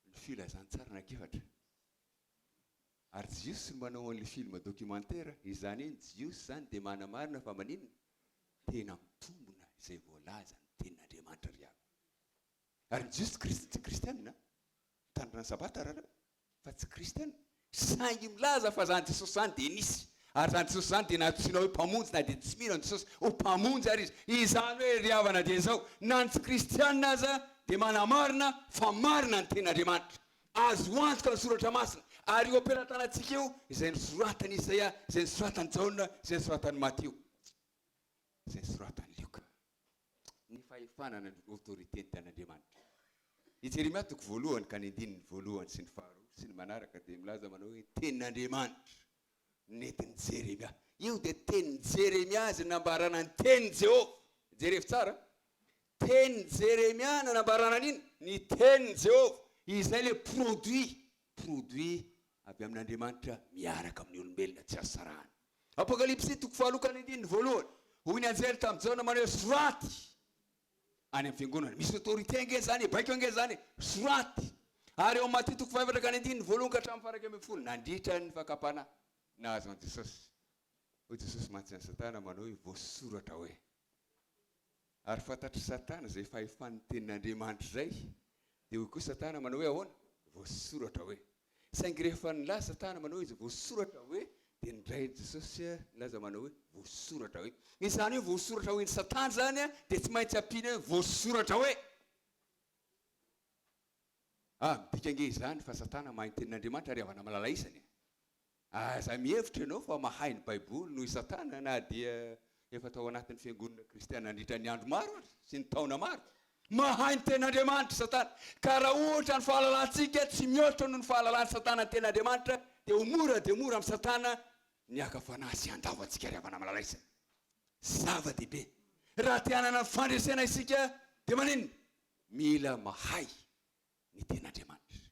Ny filazantsara anankiefatra. Ary Jiosy no manao an'le film documentaire, izany hoe ny Jiosy izany dia manamarina fa maninona? Tena mitombona izay voalazan'ny tenin'Andriamanitra ry havana. Ary ny Jiosy tsy tsy kristianina an! Mitandrina ny sabata ra reo fa tsy kristianina. Saingy milaza fa zany Jesosy zany dia nisy ary zany Jesosy zany dia nantsoina hoe mpamonjy na dia tsy mino an'i Jesosy ho mpamonjy ary izy. Izany hoe ry havana dia izao, na ny tsy kristianina aza dia manamarina fa marina ny tenin'Andriamanitra. Azo antoka ny soratra masina ary io am-pelatanantsika io izay nosoratan'i Isaia, izay nosoratan'i Jaona, izay nosoratan'i Matio, izay nosoratan'i Lioka. ny fahefana na ny autorité ny tenin'Andriamanitra. I Jeremia toko voalohany ka ny andininy voalohany sy ny faharoa sy ny manaraka dia milaza manao hoe tenin'Andriamanitra nentin'i Jeremia. Io dia tenin'i Jeremia azy nambarana ny tenin'i Jehovah. Jerevy tsara, tenin'i Jeremia nanambarana an'inona? Ny tenin'i Jehovah. Izay ilay produit, produit avy amin'Andriamanitra miaraka amin'ny olombelona tsy azo sarahana. Apokalypsy toko faharoakany andininy voalohany, hoy ny anjely tamin'i Jaona manao hoe, Soraty any amin'ny fiangonana. Misy autorité ange zany e, baiko ange zany e, soraty. Ary ao Matthieu toko fahaefatra ka ny andininy voalohany ka hatramin'ny faha-iraika ambin'ny folo, nandritra ny fakam-panahy nahazo an'i Jesosy. Hoy Jesosy mantsy an'i Satana manao hoe, voasoratra hoe. Ary fantatr'i Satana izay fahefan'ny Tenin'Andriamanitra izay. Dia hoy koa Satana manao hoe ahoana? Voasoratra hoe. Saingy rehefa nilaza Satana manao hoe voasoratra hoe, dia nindray Jesosy nilaza manao hoe voasoratra hoe. Izany hoe voasoratra hoen'i Satana izany dia tsy maintsy ampiana hoe voasoratra hoe. Ah, midika ange izany fa Satana mahay ny Tenin'Andriamanitra ary havana malala isany e. Aza mihevitra ianao fa mahay ny Baiboly noho i Satana na dia efa tao anatin'ny fiangonana kristiana nandritra ny andro maro aza sy ny taona maro. Mahay ny Tenin'Andriamanitra i Satana, ka raha ohatra ny fahalalantsika tsy mihoatra noho ny fahalalan'i Satana ny Tenin'Andriamanitra, dia ho mora dia mora amin'i Satana ny haka fanahy sy handao antsika ary havana malalaisina. Zava-dehibe, raha te-hanana ny fandresena isika, dia maninona? Mila mahay. ny Tenin'Andriamanitra.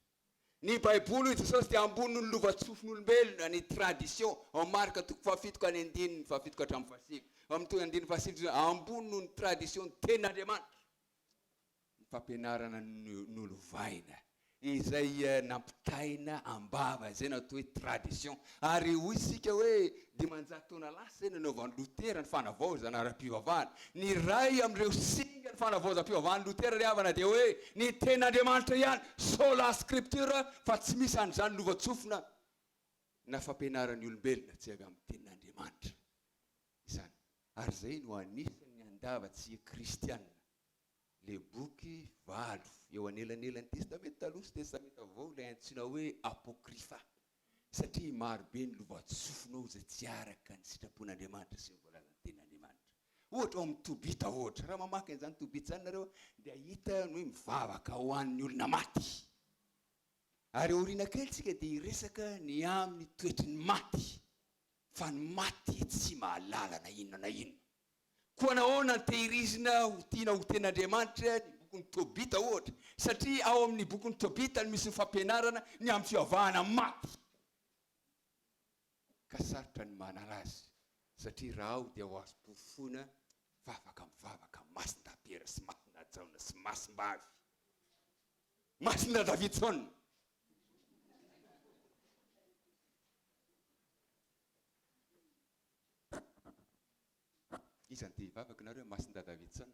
Ny Baiboly, hoy Jesosy, dia ambonin'ny lovantsofn'olombelona, ny tradition, ao Marka toko fahafito ka ny andininy fahafito ka hatramin'ny fahasivy. Amin'ny toko andininy fahasivy Jesosy hoe, Ambony noho ny tradition ny Tenin'Andriamanitra, ny fampianarana nolovaina, izay nampitaina am-bava, izay natao hoe tradition. Ary hoy isika hoe dimanjato taona lasa izay no nanaovan'i Lotera ny fanavaozana ara-pivavahana. Ny iray amin'ireo singa ny fanavaozam-pivavahan'i Lotera ry havana dia hoe ny tenin'Andriamanitra ihany, sola scriptura, fa tsy misy an'izany lovantsofina na fampianaran'ny olombelona tsy avy amin'ny tenin'Andriamanitra izany. Ary izay no anisan'ny handava tsy kristiana Ilay boky valo eo anelanelan'ny Testamenta Taloha sy Testamenta Vaovao, ilay antsoina hoe Apokrifa, satria maro be ny lovan-tsofinao izay tsy araka ny sitrapon'Andriamanitra sy ny voalazan'ny Tenin'Andriamanitra. Ohatra, ao amin'ny Tobita, ohatra, raha mamaky an'izany Tobita izany nareo, dia hahita ny hoe mivavaka ho an'ny olona maty. Ary aoriana kely isika dia hiresaka ny amin'ny toetry ny maty, fa ny maty tsy mahalala na inona na inona. Koa nahoana no tehirizina ho tiana ho tena andriamanitra ny bokin'i Tobita, ohatra? Satria ao amin'ny bokin'i Tobita no misy ny fampianarana ny amin'ny fivavahana amin'ny maty, ka sarotra ny manala azy, satria raha ao dia ho azo porofoina vavaka amin'ny vavaka, Masin-dRapiera sy Masin-dRajaona sy Masim-bavy, Masin-dRadavitsona. Iza no te hivavaka nareo? Masindadavidson?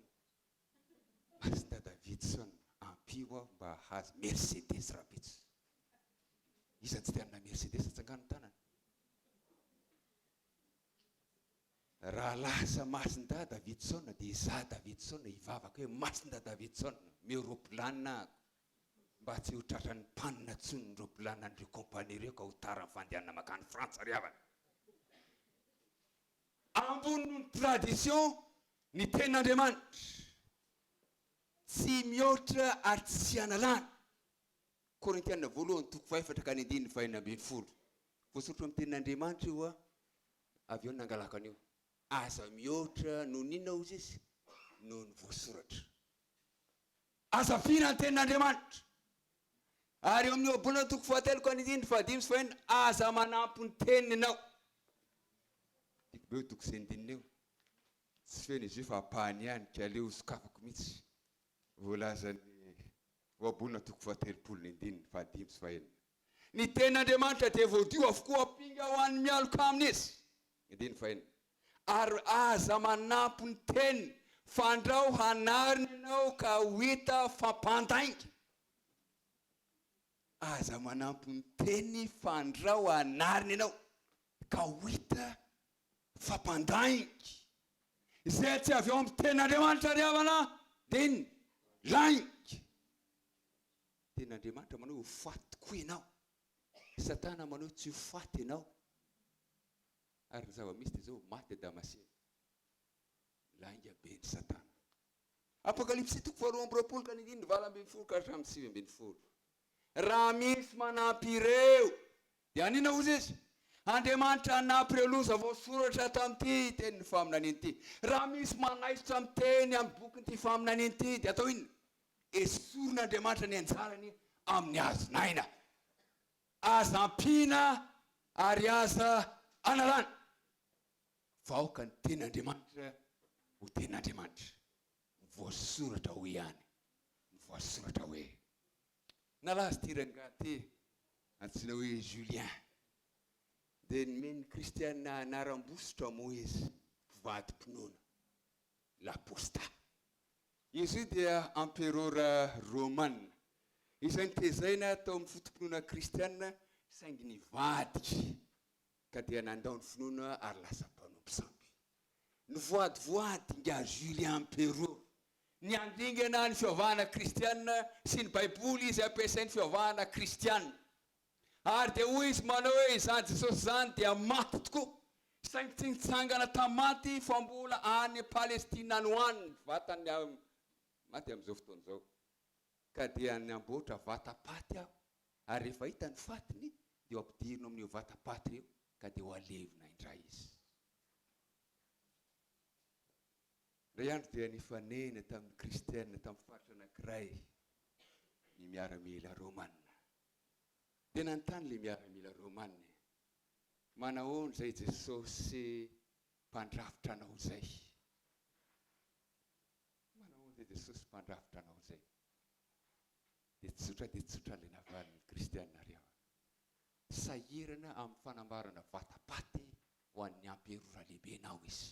Masindadavidson ampio aho mba hahazo mercedes rahampitso. Iza no tsy te hanana mercedes atsangano ny tanany. Raha lasa Masindadavidson dia izaho Davidson hivavaka hoe Masindadavidson omeo ropilanina ahako mba tsy ho tratran'ny mpanina tsony ny ropilanan'ireo compagnie ireo ka ho tara ny fandehanana makany Frantsa ry havana. Ambony noho ny tradition ny tenin'Andriamanitra, tsy mihoatra ary tsy analana, Korintiana voalohany toko fahefatra ka ny andininy fahenina ambin'ny folo. Voasoratra ao amin'ny tenin'Andriamanitra io a, avy eo nangalaka an'io. Aza mihoatra noho ny inona hozy izy? Noho ny voasoratra. Hazavina ny Tenin'Andriamanitra. Ary eo amin'ny Ohabolana toko fahatelo ka ny andininy fahadimy sy fahenina, Aza manampy ny teninao. Diako be io toko sy andininy io. Tsy feno izy io fa ampahany ihany ka aleo sokafako mihitsy. Voalazan'ny Ohabolana toko fahatelopolo ny andininy fahadimy sy fahenina. Ny Tenin'Andriamanitra dia voadio avokoa hampinga ho an'ny mialoka aminy izy. Andininy fahenina. Ary aza manampy ny Teniny, fandrao hanarina ianao ka ho hita fampandainga. Aza manampy ny Teniny, fandrao hanarina ianao ka ho hita fampandainga. Izay tsy avy ao amin'ny Tenin'Andriamanitra, ry havana, dia ny lainga. Tenin'Andriamanitra manao hoe ho faty tokoa ianao. Satana manao hoe tsy ho faty ianao. Ary ny zava-misy dia izao, maty i Adama sy Eva. Lainga be ny Satana. Apokalypsy toko faharoa amby roapolo ka ny andininy valo ambin'ny folo ka hatramin'ny sivy ambin'ny folo. Raha misy manampy ireo, dia hanina hozy izy? Andriamanitra hanampy ireo loza voasoratra tamin'ity tenin'ny faminaniana ity. Raha misy manaisotra amin'ny teny amin'ny bokin'ity faminaniana ity, dia atao inona? Esorin'Andriamanitra ny anjarany amin'ny hazonaina. Aza ampiana ary aza analana. Vaoka ny tenin'Andriamanitra ho tenin'Andriamanitra. Ny voasoratra hoy ihany ny voasoratra hoe. Nalaza ity rangahy ity antsoina hoe Julien. Dia nomen'ny kristiana anaram-bosotra moa izy, mpivadi-pinoana, laposta. Izy io dia amperôra rômana izay notezaina tao amin'ny foto-pinoana kristiana saingy nivadika ka dia nandao ny finoana ary lasa mpanompo sampy. Nivoadivoadinga Julian Amperôra ny handringana ny fivavahana kristiana sy ny Baiboly izay ampiasain'ny fivavahana kristiana Ary dia hoy izy manao hoe, Izany Jesosy izany dia maty tokoa, saingy tsy nitsangana tamin'ny maty, fa mbola any Palestina any ho any ny vatany aho maty amin'izao fotoana izao. Ka dia namboatra vata-paty aho, ary rehefa hita ny fatiny, dia ho ampidirina ao amin'ireo vata-paty ireo, ka dia ho alevina indray izy. Indray andro dia nifanena tamin'ny Kristiana tamin'ny faritra anankiray ny miaramila Romana. Dia nanontany ilay miaramila Romana e, Manahoana izay Jesosy mpandrafitra anao izay? Manahoana izay Jesosy mpandrafitra anao izay? Dia tsotra dia tsotra ilay navaliny ny kristiana ry havana, Sahirana amin'ny fanambarana vatapaty ho an'ny amperora lehibenao izy.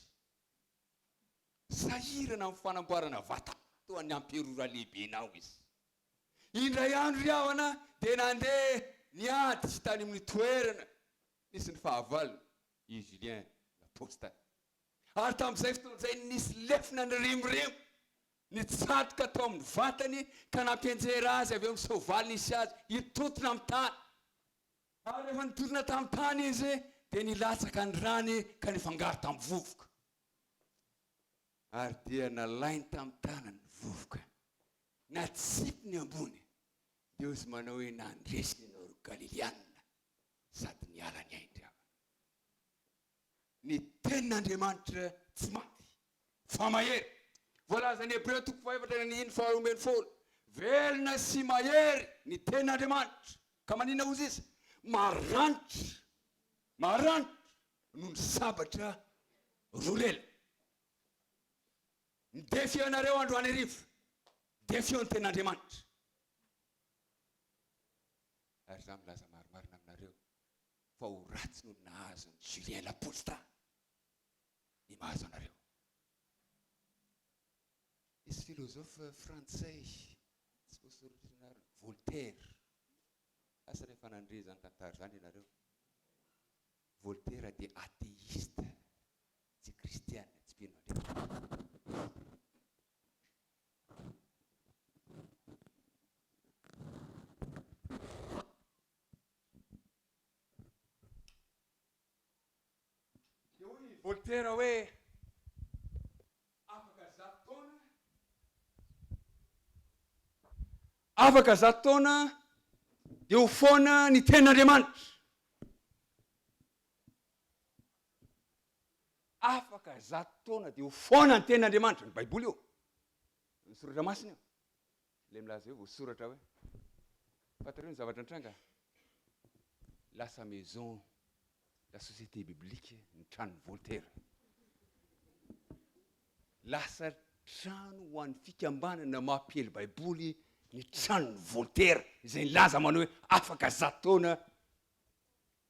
Sahirana amin'ny fanamboarana vatapaty ho an'ny amperora lehibenao izy. Indray andro ry havana dia nandeha niady tany amin'ny toerana nisy ny fahavalony i Julien Laposta. Ary tamin'izay fotoana izay nisy lefona nirimorimo nitsatoka tao amin'ny vatany ka nampianjera azy avy eo ny soavaly nisy azy hitontona amin'ny tany. Ary rehefa nitontona tamin'ny tany izy dia nilatsaka ny rany ka nifangaro tamin'ny vovoka. Ary dia nalainy tamin'ny tanany ny vovoka, natsipiny ambony, dia ozy manao hoe, Nandresy ianao ry Galiliana, sady niala ny ainy ry havana. Ny tenin'Andriamanitra tsy maty, fa mahery. Voalazan'ny Hebreo toko fahaefatra ny andininy faharoa ambin'ny folo, Velona sy mahery ny tenin'Andriamanitra. Ka maninona ozy izy? Maranitra, maranitra, noho ny sabatra rorel. Ny defi anareo androany hariva defi ny ten'Andriamanitra. Ary za milaza marimarina aminareo fa ho ratsy noho ny nahazo an'i Julien Laposta ny mahazo anareo. Nisy filozofa frantsay tsy voasoritry ny anarany, Voltaire. Asa rehefa nandre izany tantara izany ianareo. Voltaire dia atheiste, tsy kristiana, tsy mpino Andriamanitra. Dia hoy i Voltaire hoe. Afaka zato taona, afaka zato taona dia ho foana ny Tenin'Andriamanitra. Afaka zato taona dia ho foana ny Tenin'Andriamanitra, ny Baiboly io, ny Soratra Masina io. Ilay milaza hoe voasoratra hoe. Fantareo ny zavatra nitranga? Lasa maison, la société biblique ny tranon'i Voltaire. Lasa trano ho an'ny fikambanana mampiely Baiboly ny tranon'i Voltaire, izay nilaza manao hoe afaka zato taona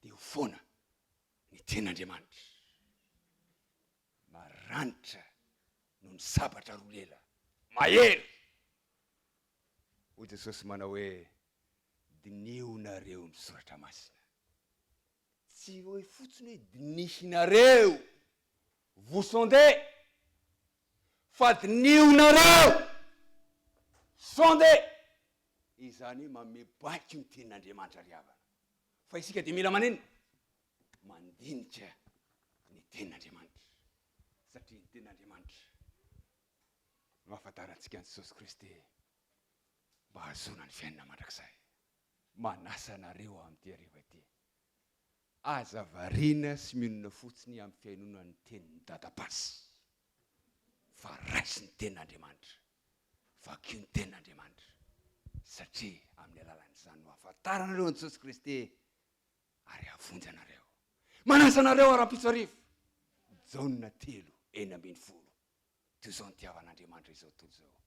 dia ho foana ny tenin'Andriamanitra. Maranitra noho ny sabatra roa lela. Mahery! Hoy Jesosy manao hoe, Diniho nareo ny Soratra Masina. Tsy hoe fotsiny hoe dinihinareo, vous sondez, fa diniho nareo, sondez, izany hoe manome baiko ny Tenin'Andriamanitra ry havana. Fa isika dia mila maninona? mandinika ny tenin'Andriamanitra, satria ny tenin'Andriamanitra no ahafantarantsika an'i Jesosy Kristy mba hahazoana ny fiainana mandrakizay. Manasa anareo amin'ity hariva ity, aza variana sy mionona fotsiny amin'ny fihainoana ny tenin'ny dadabasy, fa raiso ny tenin'Andriamanitra, vakio ny tenin'Andriamanitra, satria amin'ny alalan'izany no ahafantaranareo an'i Jesosy Kristy ary havonjy anareo. Manasa anareo ara-pitso arivo. Jaona telo, enina ambin'ny folo. Toy izao ny tiavan'Andriamanitra izao tontolo izao,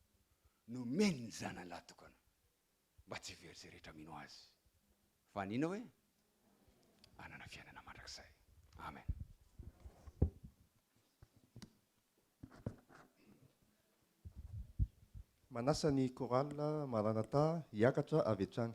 nomeny ny Zanany lahatokana, mba tsy hivery izay rehetra mino Azy, fa hanina hoe? hanana fiainana mandrakizay. Amen.
Manasa ny chorale Maranatha hiakatra avy hatrany.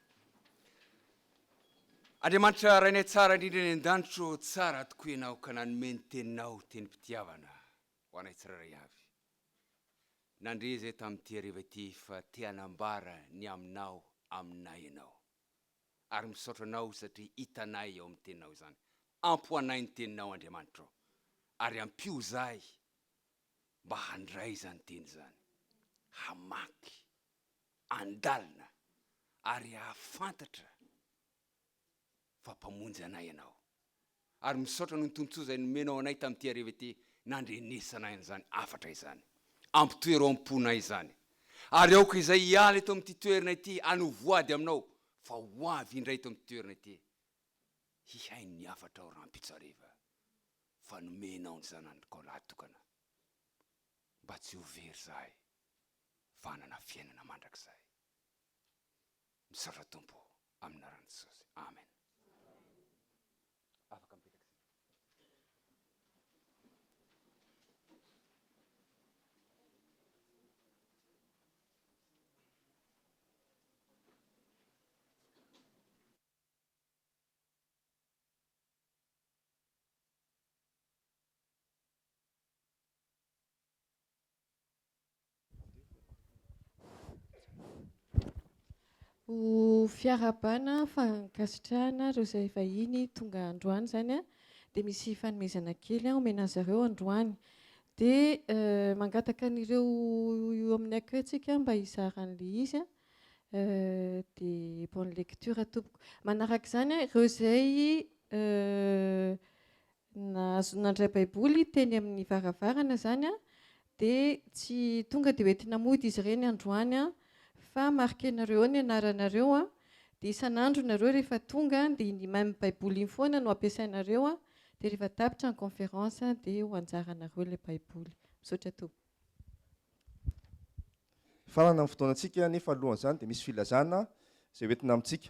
Andriamanitra Rainay tsara indrindra eny an-danitra ô, tsara tokoa Ianao ka nanome ny Teninao, tenim-pitiavana, ho anay tsirairay avy. Nandre izay tamin'ity hariva ity fa te hanambara ny Aminao aminay Ianao. Ary misaotra Anao satria hitanay ao amin'ny Teninao izany. Ampy ho anay ny Teninao, Andriamanitra ô, ary ampio izahay mba handray izany Teny izany, hamaky. Handalina ary hahafantatra fa Mpamonjy anay Ianao. Ary misaotra noho ny tombotsoa izay nomenao anay tamin'ity hariva ity nandrenesanay an'izany hafatra izany. Ampitoero ao am-ponay izany. Ary aoka izay hiala eto amin'ity toerana ity any ho voady Aminao, fa ho avy indray eto amin'ity toerana ity, hihaino ny hafatrao rahampitso hariva, fa nomenao ny Zanakao lahy tokana, mba tsy ho very izahay, fiovanana fiainana mandrakizay. Misaotra Tompo ô, amin'ny anaran'i Jesosy. Amen. Afaka mipetraka isika.
Ho fiarahabana fankasitrahana ireo izay vahiny tonga androany izany an, dia misy fanomezana kely omena azy ireo androany. Dia mangataka an'ireo eo amin'ny accueil tsika mba hizara an'ilay izy an. Dia bonne lecture tompoko. Manaraka izany an, ireo izay Nahazo nandray Baiboly teny amin'ny varavarana izany dia tsy tonga dia hoentina mody izy ireny androany fa marquer-nareo ao ny anaranareo dia isan'andro nareo rehefa tonga dia iny même Baiboly iny foana no ampiasainareo dia rehefa tapitra ny conférence dia ho anjaranareo ilay Baiboly. Misaotra Tompo.
Mifanana amin'ny fotoanantsika nefa alohan'izany dia misy filazana izay hoentina amintsika.